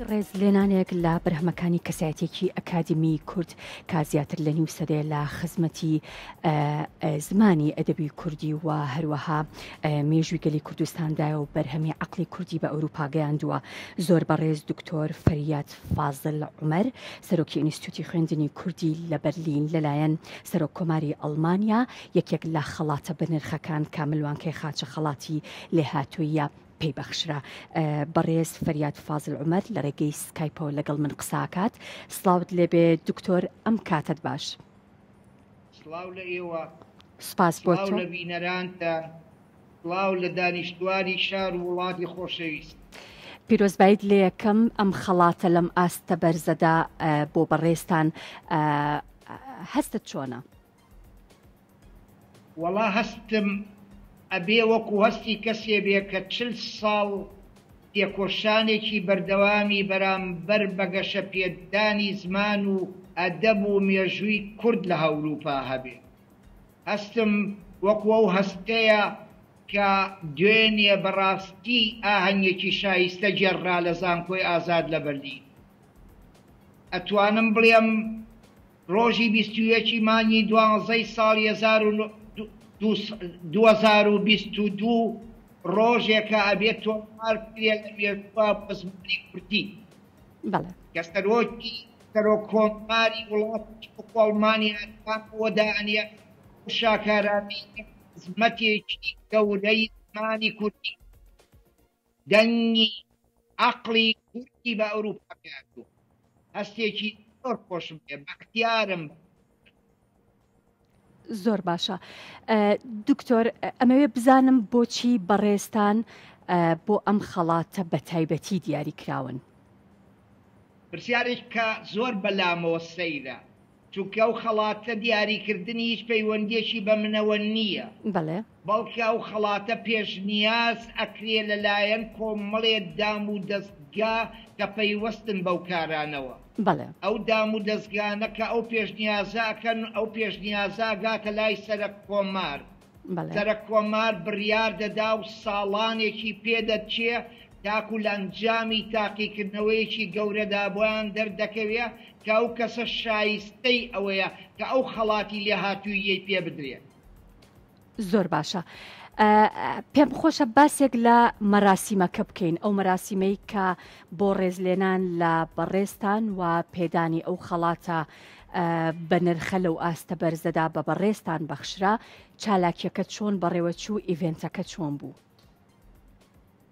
وەک ڕێزلێنانێک لە بەرهەمەکانی کەسایەتیەکی ئەکادیمی کورد کا زیاتر لە نیو سەدەیە لە خزمەتی زمانی ئەدەبی کوردی و هەروەها مێژوی گەلی کوردستاندایە و بەرهەمی عقلی کوردی بە ئەوروپا گەیاندووە زۆر بەڕێز دکتۆر فەریاد فازل عمر سەرۆکی ئینستیتوتی خوێندنی کوردی لە بەرلین لەلایەن سەرۆک کۆماری ئەڵمانیا یەکێک لە خەڵاتە بەنرخەکان کاملوانکەی خاچە خەڵاتی لێهاتوویە پێی بەخشرا. بەڕێز فەریاد فازل عومەر لە ڕێگەی سکایپەوە لەگەڵ من قسە ئەکات. سڵاوت لێبێ دکتۆر ئەم کاتەت باش. سڵاو لە ئێوە. سوپاس بۆ تۆ. سڵاو لە بینەرانتان. سڵاو لە دانیشتوانی شار و وڵاتی خۆشەویست. پیرۆزبایت لێکەم ئەم خەڵاتە لەم ئاستە بەرزەدا بۆ بەڕێزتان هەستت چۆنە؟ وەڵا هەستم ئەبێ وەکو هەستی کەسێ بێ کە چل ساڵ تێکۆشانێکی بەردەوامی بەرامبەر بە گەشە پێدانی زمان و ئەدەب و مێژووی کورد لە هەوروپا هەبێ هەستم وەکو ئەو هەستەیە کە دوێنێ بەڕاستی ئاهەنگێکی شایستە گێڕرا لە زانکۆی ئازاد لە بەرلین ئەتوانم بڵێم ڕۆژی بیست و یەک ی مانگی دوازدە ی ساڵی هەزار و نۆ هەزار و بیست و دوو ڕۆژێکە ئەبێ تۆمار بکرێ لە مێژووە بۆ زمانی کوردی کە سەرۆکی سەرۆک کۆماری وڵاتیش وەکو ئەڵمانیا دانەوە دانێ ئەو شاکارانەی کە خزمەتێکی گەورەی زمانی کوردی. دەنگی عەقڵی کوردی بە ئەوروپا گەیاندووە. هەستێکی زۆر خۆشم پێ بەختیارم بە کوردی بم. زۆر باشە دکتۆر ئەمەوێ بزانم بۆچی بەڕێزتان بۆ ئەم خەڵاتە بەتایبەتی دیاری کراون؟ پرسیارێک کە زۆر بەلامەوە سەیرە. چونکە ئەو خەڵاتە دیاریکردنی هیچ پەیوەندیەکی بە منەوە نیە بەڵێ. بەڵکە ئەو خەڵاتە پێشنیاز ئەکرێ لەلایەن کۆمەڵێک دام و دەستگا کە پەیوەستن بەو کارانەوە. بەڵێ. ئەو دام و دەزگانە کە ئەو پێشنیازە ئەکەن ئەو پێشنیازە ئەگاتە لای سەرەک کۆمار سەرکۆمار بڕیار دەدا و ساڵانێکی پێ دەچێ تاکوو لە ئەنجامی تاقیکردنەوەیەکی گەورەدا بۆیان دەردەکەوێ کە ئەو کەسە شایستەی ئەوەیە کە ئەو خەڵاتی لێهاتووییەی پێ بدرێ. زۆر باشە. پێم خۆشە باسێک لە مەراسیمەکە بکەین، ئەو مەراسیمەی کە بۆ ڕێزلێنان لە بەڕێزتان و پێدانی ئەو خەڵاتە بەنرخە لەو ئاستە بەرزەدا بە بەڕێزتان بەخشرا چالاکیەکە چۆن بەڕێوەچوو ئیڤێنتەکە چۆن بوو؟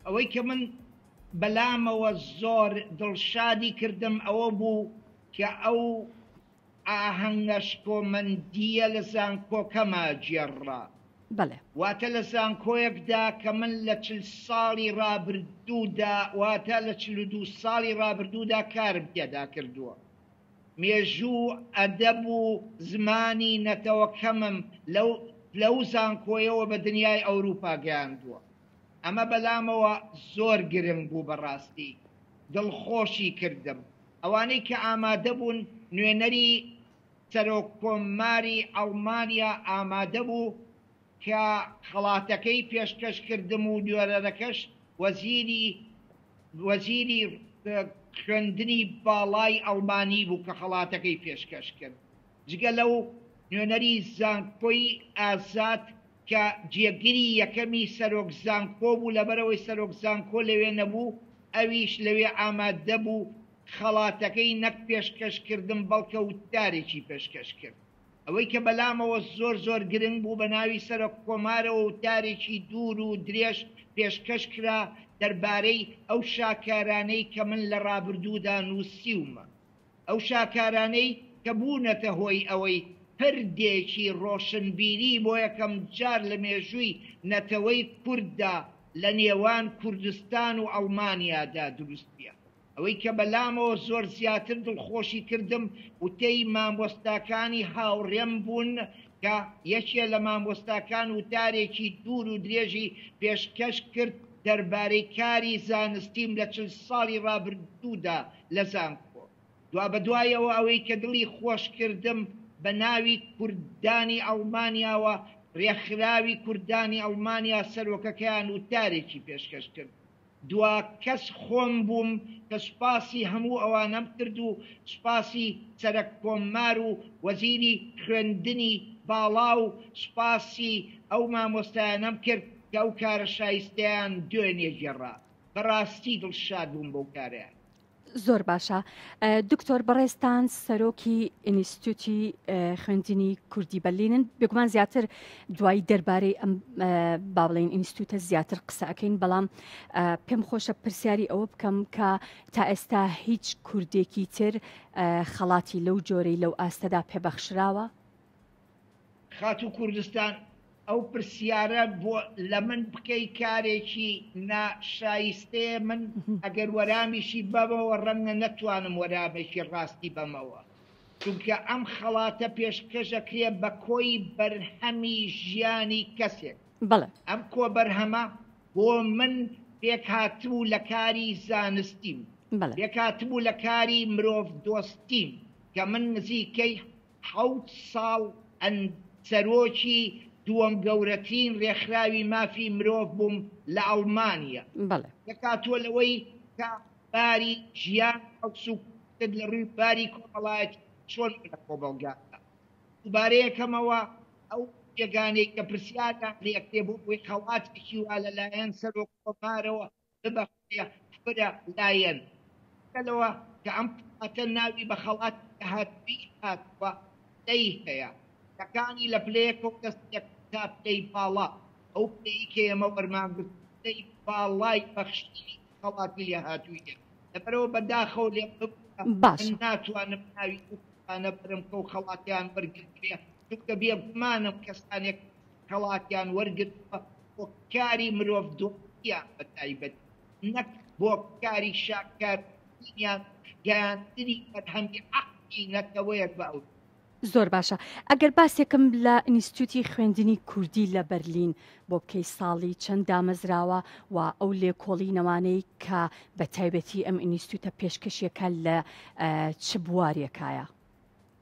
ئەوەی کە من بەلامەوە زۆر دڵشادی کردم ئەوە بوو کە ئەو ئاهەنگە شکۆمەندییە لە زانکۆکەما گێڕرا. بەڵێ. واتە لە زانکۆیەکدا کە من لە چل ساڵی ڕابردوودا واتە لە چل و دوو ساڵی ڕابردوودا کارم تێدا کردووە. مێژوو، ئەدەب و زمانی نەتەوەکەمم لەو پلەو زانکۆیەوە بە دنیای ئەوروپا گەیاندووە. ئەمە بەلامەوە زۆر گرنگ بوو بەڕاستی دڵخۆشی کردم. ئەوانەی کە ئامادە بوون نوێنەری سەرۆک کۆماری ئەڵمانیا ئامادە بوو کە خەڵاتەکەی پێشکەش کردم و دوێرەرەکەش وەزیری وەزیری خوێندنی باڵای ئەڵمانی بوو کە خەڵاتەکەی پێشکەش کرد. جگە لەو، نوێنەری زانکۆی ئازاد کە جێگری یەکەمی سەرۆک زانکۆ بوو، لەبەرئەوەی سەرۆک زانکۆ لەوێ نەبوو، ئەویش لەوێ ئامادە بوو، خەڵاتەکەی نەک پێشکەش کردن بەڵکە وتارێکی پێشکەش کرد. ئەوەی کە بەلامەوە زۆر زۆر گرنگ بوو بە ناوی سەرۆک کۆمارەوە وتارێکی دوور و درێژ پێشکەش کرا دەربارەی ئەو شاکارانەی کە من لە رابردوودا نووسیومە ئەو شاکارانەی کە بوونەتە هۆی ئەوەی پردێکی رۆشنبیری بۆ یەکەم جار لە مێژووی نەتەوەی کورددا لە نێوان کوردستان و ئەڵمانیادا دروست بێ. ئەوەی کە بەلامەوە زۆر زیاتر دڵخۆشی کردم وتەی مامۆستاکانی هاوڕێم بوون کە یەکێ لە مامۆستاکان وتارێکی دوور و درێژی پێشکەش کرد دەربارەی کاری زانستیم لە چل ساڵی ڕابردوودا لە زانکۆ. دوابەدوایەوە ئەوەی کە دڵی خۆش کردم بە ناوی کوردانی ئەڵمانیاوە ڕێکخراوی کوردانی ئەڵمانیا سەرۆکەکەیان وتارێکی پێشکەش کرد. دوا کەس خۆم بووم کە سوپاسی هەموو ئەوانەم کرد و سوپاسی سەرەک کۆممار و وەزیری خوێندنی باڵا و سوپاسی ئەو مامۆستایانەم کرد کە ئەو کارە شایستەیان دوێنێ گێڕا. بەڕاستی دڵشاد بووم بەو کارەیان. زۆر باشە دکتۆر بەڕێزتان سەرۆکی ئینیستوتی خوێندنی کوردی بەلینن بێگومان زیاتر دوایی دەربارەی ئەم باڵێن ئینستوتە زیاتر قسەکەین بەڵام پێم خۆشە پرسیاری ئەوە بکەم کە تا ئێستا هیچ کوردێکی تر خەڵاتی لەو جۆرەی لەو ئاستەدا پێبەخشراوە خاتوو کوردستان ئەو پرسیارە بۆ لە من بکەی کارێکی نا شایستەیە من ئەگەر وەرامیشی بەمەوە ڕەنگە نەتوانم وەرامێکی ڕاستی بەمەوە چونکە ئەم خەڵاتە پێشکەشەکرێ بە کۆی بەرهەمی ژیانی کەسێک بەڵێ ئەم کۆ بەرهەمە بۆ من پێک هاتبوو لە کاری زانستیم بەڵێ پێک هاتبوو لە کاری مرۆڤ دۆستیم کە من نزیکەی حەوت ساڵ ئەند سەرۆکی دووەم گەورەترین رێکخراوی مافی مرۆڤ بووم لە ئەڵمانیا. بەڵێ. دەکاتوە لەوەی کە باری ژیان حەوس و کوشت لە رووی باری کۆمەڵایەتی چۆن بوو لە کۆمەڵگادا. دووبارە ئەکەمەوە ئەو بێگانەی کە پرسیاریان لێکرێ بۆ ئەوەی خەڵاتێکی وا لە لایەن سەرۆک کۆمارەوە ببەخشێ فرە لایەن. بگەلەوە کە ئەم خەڵاتە ناوی بە خەڵاتی داهاتوویی هاتووە پلەی هەیە. پلەکانی لە پلەیە کۆنگەس یەک تا پلەی باڵا. ئەو پلەی کە ئێمە وەرمانگرتووە پلەی باڵای بەخشینی خەڵاتی لێهاتووییە. لەبەرئەوە بە داخەوە لێم ببورە من باشە. ناتوانم ناوی ئەو کەسانە بەرم کە ئەو خەڵاتەیان وەرگرتبێ چونکە بێگومانم کەسانێک خەڵاتیان وەرگرتووە بۆ کاری مرۆڤدۆستییان بە تایبەت نەک بۆ کاری شاکارترینیان گەیاندنی فەرهەنگی عەقڵی نەتەوەیەک بە ئەوروپا. زۆر باشە ئەگەر باسێکم لە ئینستیتووتی خوێندنی کوردی لە بەرلین بۆ بکەی ساڵی چەند دامەزراوە و ئەو لێکۆڵینەوانەی کە بە تایبەتی ئەم ئینستیتووتە پێشکەشیەکە لە چ بوارێکایە؟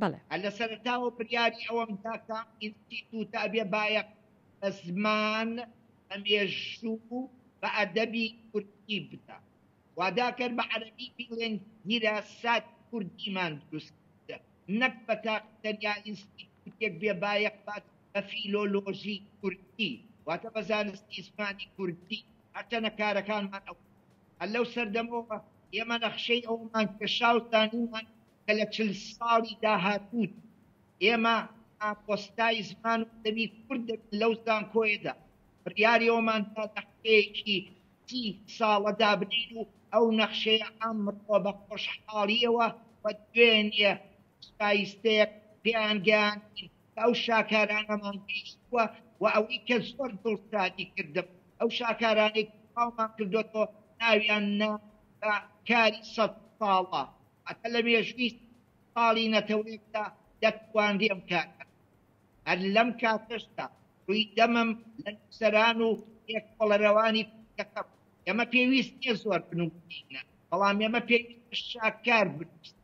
بەڵێ. لە سەرەتاوە بریاری ئەوەم دا کە ئینستیتووت ئەبێ بایەخ بە زمان، بە مێژوو، بە ئەدەبی کوردی بدا. واداکەن بە عەرەبی بیڵێن دیراساتی کوردیمان دروست کردە، نەک بە تاقی تەنیا ئینستیتووتێک بێ بایەخ بات بە فیلۆلۆژی کوردی، واتە بە زانستی زمانی کوردی. هەرچەنە کارەکانمان ئەوەن. هەر لەو سەردەمەوە ئێمە نەخشەی ئەوەمان کێشا و زانیمان کە لە چل ساڵی داهاتوودا ئێمە مامۆستای زمان و ئەدەبی کورد دەبین لەو زانکۆیەدا، بڕیاری ئەومان دا نەخشەیەکی سی ساڵە دابنێین و ئەو نەخشەیە ئەمڕۆ بە خۆشحاڵییەوە و دوێنێ شایستەیەک پێیان گەیاندین کە ئەو شاکارانەمان گەیشتووە و ئەوەی کە زۆر دڵشادی کردم ئەو شاکارانەی کە بڵاومان کردۆتەوە ناویان نا بە کاری سەد ساڵە هەتا لە مێژووی ساڵی نەتەوەیەکدا دەتوانرێ ئەم کارە بکرێ. هەر لەم کاتەشدا ڕووی دەمم لە نووسەران و لێکۆڵەرەوانی کورتەکە بوو. ئێمە پێویست نییە زۆر بنووسینە، بەڵام ئێمە پێویستە شاکار بنووسین.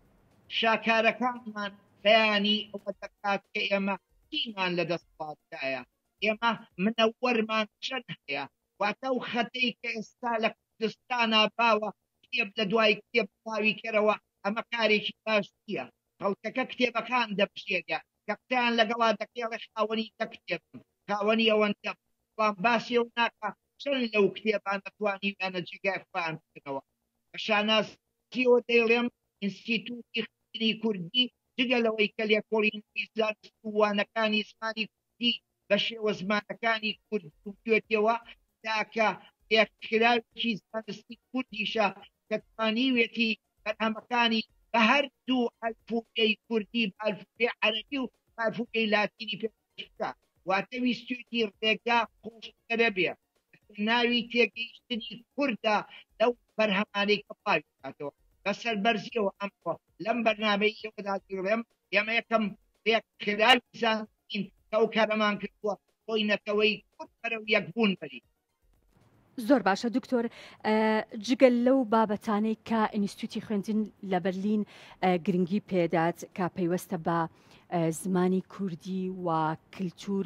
شاکارەکانمان بەیانی ئەوە دەکات کە ئێمە چیمان لە دەسەڵاتدایە، ئێمە منەوەرمان چەند هەیە، واتە ئەو خەتەی کە ئێستا لە کوردستانا باوە کتێب لە دوای کتێب بڵاوی کەرەوە ئەمە کارێکی باش نییە خەڵکەکە کتێبەکان دەبژێرێ کە قسەیان لەگەڵا دەکێڵێ خاوەنی دە کتێبم خاوەنی ئەوەندەم بەڵام باسی ئەو ناکا چەند لەو کتێبانە توانیویانە جێگای خۆیان بکەنەوە بە شانازیەوە دەیڵێم ئینستیتووتی خوێندنی کوردی جگە لەوەی کە لێکۆڵینەوەی زانست و وانەکانی زمانی کوردی بە شێوە زمانەکانی کوردی و کوێتییەوە، تاکە لێکخراوێکی زانستی کوردیشە کە توانیویەتی بەرهەمەکانی بە هەر دوو ئەلفوبێی کوردی، بە ئەلفوبێی عەرەبی و بە ئەلفوبێی لاتینی پێشکەش بکات. واتە ویستویەتی ڕێگا قووڵترە بێ، لەسەر ناوی تێگەیشتنی کوردە لەو بەرهەمانەی کە بڵاوی بکاتەوە. بە سەربەرزییەوە ئەمڕۆ لەم بەرنامەی ئێوەدا دەیڵێم، ئێمە یەکەم ڕێکخراوی زانستین کە ئەو کارەمان کردووە بۆی نەتەوەی کورد بەرەو یەکبوون بەرین. زۆر باشە دکتۆر جگە لەو بابەتانەی کە ئینیستوتی خوێندن لە بەرلین گرنگی پێدات کە پەیوەستە بە زمانی کوردی و کللتور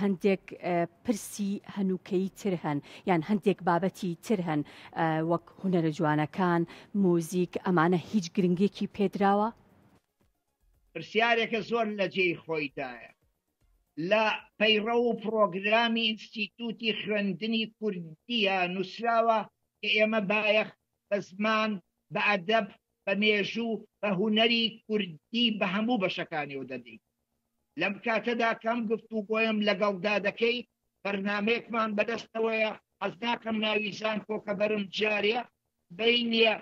هەندێک پرسی هەنووکەی تر هەن یان هەندێک بابەتی تر هەن وەک هوەرە جوانەکان موزیک ئەمانە هیچ گرنگێکی پێدراوە پرسیارێکە زۆر لە جێی خۆیدایە لە پەیڕە و پرۆگرامی ئینستیتوتی خوێندنی کوردیە نووسراوە کە ئێمە بایەخ بە زمان بە ئەدەب بە مێژوو بە هوەری کوردی بە هەموو بەشەکانی و دەدەین لەم کاتەدا کەم گفت و گۆیم لەگەڵدا دەکەی بەرنمەیەکمان بەدەستەوەیە حەز ناکەم ناوی زانکۆکە بەرم جارە بەینیە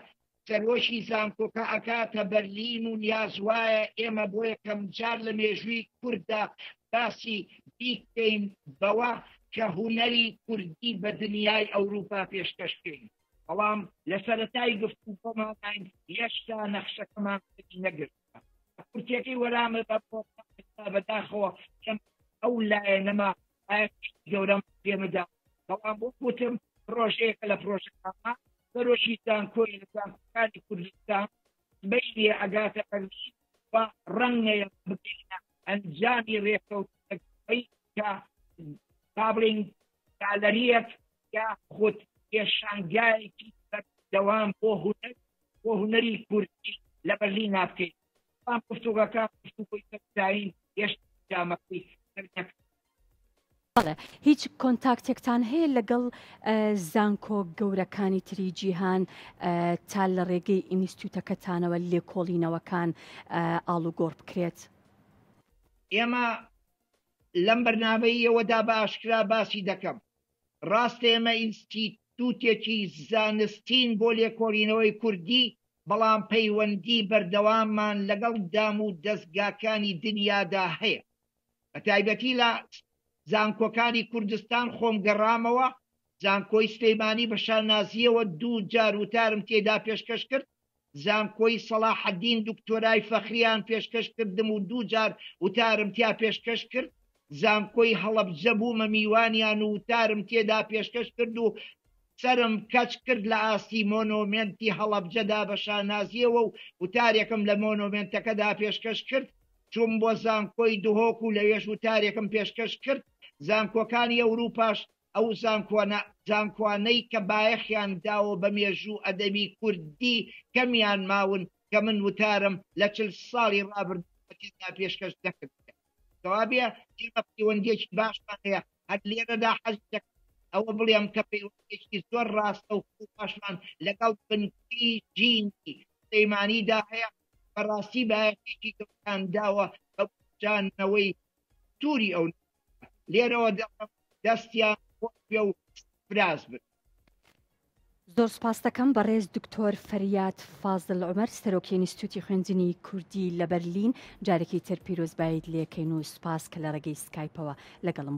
سەرۆکی زانکۆکە ئەکاتە بەرلین و نیاز وایە ئێمە بۆ یەکەمجار لە مێژووی کورددا باسی بیکەین بەوە کە هونەری کوردی بە دنیای ئەوروپا پێشکەش بکەین بەڵام لە سەرەتای گفتوگۆمانین هێشتا نەخشەکەمان نەگرت کورتەکەی وەرامە بە بەداخەوە ئەو لایەنەما گەورەم پێمەدا بەڵام بۆ وتم پرۆژەیەکە لە پرۆژەکانە سەرۆکی زانکۆی لە زانکۆکانی کوردستان بینێ ئەگاتە ئەرمی و ڕەنگەیە بگەینە ئەنجامی ڕێکەوتەکەی کە پابلینگ گالەریەک یا خود پێشانگایەکی دەوام بۆ هونەر بۆ هونەری کوردی لە بەرلین نابکەیت بەڵام گفتوگۆکە گفتوگۆی بەرز داین هێشتا ئەنجامەکەی دەرنەکەوتووە. بەڵێ هیچ کۆنتاکتێکتان هەیە لەگەڵ زانکۆ گەورەکانی تری جیهان تا لە ڕێگەی ئینیستوتەکەتانەوە لێکۆڵینەوەکان ئاڵوگۆڕ بکرێت؟ ئێمە لەم بەرنامەییەوەدا بە ئاشکرا باسی دەکەم ڕاستە ئێمە ئینستیتوتێکی زانستین بۆ لێکۆڵینەوەی کوردی بەڵام پەیوەندی بەردەواممان لەگەڵ دام و دەزگاکانی دنیادا هەیە بە تایبەتی لە زانکۆکانی کوردستان خۆم گەڕامەوە زانکۆی سلیمانی بە شانازیەوە دوو جار وتارم تێدا پێشکەش کرد زانکۆی سەڵاحەدین دکتۆرای فەخریان پێشکەش کردم و دوو جار وتارم تیا پێشکەش کرد زانکۆی هەڵەبجە بوومە میوانیان و وتارم تێدا پێشکەش کرد و سەرم کەچ کرد لە ئاستی مۆنۆمێنتی هەڵەبجەدا بە شانازییەوە و وتارێکم لە مۆنۆمێنتەکەدا پێشکەش کرد، چووم بۆ زانکۆی دهۆک و لەوێش وتارێکم پێشکەش کرد، زانکۆکانی ئەوروپاش ئەو زانکۆانەی کە بایەخیان داوە بە مێژوو و ئەدەبی کوردی کەمیان ماون کە من وتارم لە چل ساڵی ڕابردوودا تێدا پێشکەش نەکردبێت. کەوابێ ئێمە پەیوەندیەکی باشمان هەیە هەر لێرەدا حەزدەک ئەوە بڵێم کە پەیوەندێکی زۆر ڕاستە و خوباشمان لەگەڵ بنکەی جینی سلەیمانیدا هەیە بەڕاستی بایەتێکی گەڵتان داوە بە بجانەوەی توری ئەو لێرەوە دەڵم دەستیان خۆش بێ و سپراز بن زۆر سپاستەکەم بەڕێز دکتۆر فەریاد فازل عمر سەرۆکی ئینستیتوتی خوێندنی کوردی لە بەرلین جارێکی تر پیرۆزبایت لێکەین و سپاس کە لە ڕێگەی سکایپەوە لەگەڵم